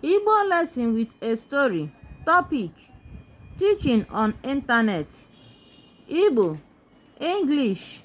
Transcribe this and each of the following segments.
Igbo lesson with a story. Topic: Teaching on internet. Igbo, English.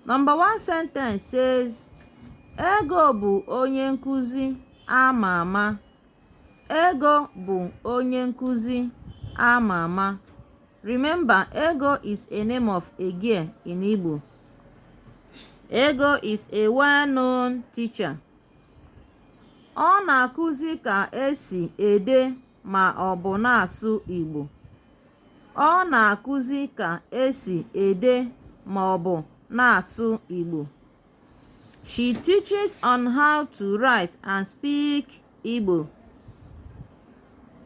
Number one sentence says, Ego bụ onye nkụzi a ma ama. Ego bụ onye nkụzi a ma ama. Remember, Ego is a name of a girl in Igbo. Ego is a well-known teacher. Ọ na-akụzi ka esi ede ma ọ bụ na-asụ Igbo. Ọ na-akụzi ka esi ede ma ọ bụ na-asụ Igbo. She teaches on how to write and speak Igbo.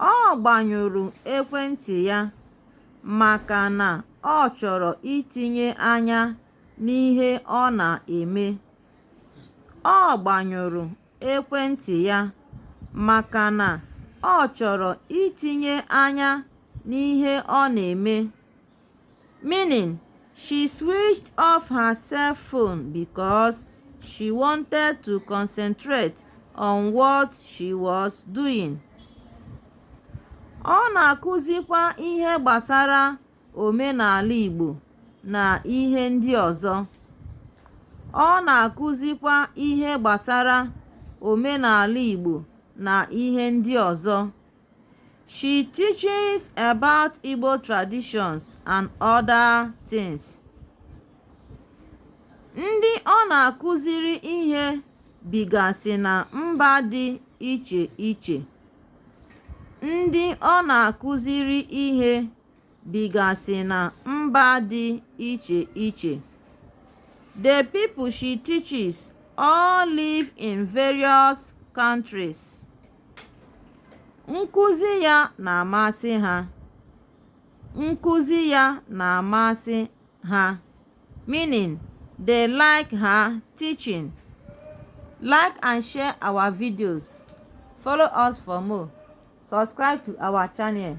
Ọ gbanyụrụ ekwentị ya maka na ọ chọrọ itinye anya n'ihe ọ na-eme. Ọ gbanyụrụ ekwentị ya maka na ọ chọrọ itinye anya n'ihe ọ na-eme. Meaning, she switched off her cell phone because she wanted to concentrate on what she was doing. Ọ na-akụzikwa ihe gbasara omenala Igbo na ihe ndị ọzọ. Ọ na-akụzikwa ihe gbasara omenala Igbo na ihe ndị ọzọ. She teaches about Igbo traditions and other things. Ndị ọ na-akụziri ihe bigasị na mba dị iche iche. Ndị ọ na-akụziri ihe bigasị na mba dị iche iche. The people she teaches all live in various countries. Nkụzi ya na-amasị ha. Nkụzi ya na-amasị ha. Meaning, they like her teaching. Like and share our videos. Follow us for more. Subscribe to our channel.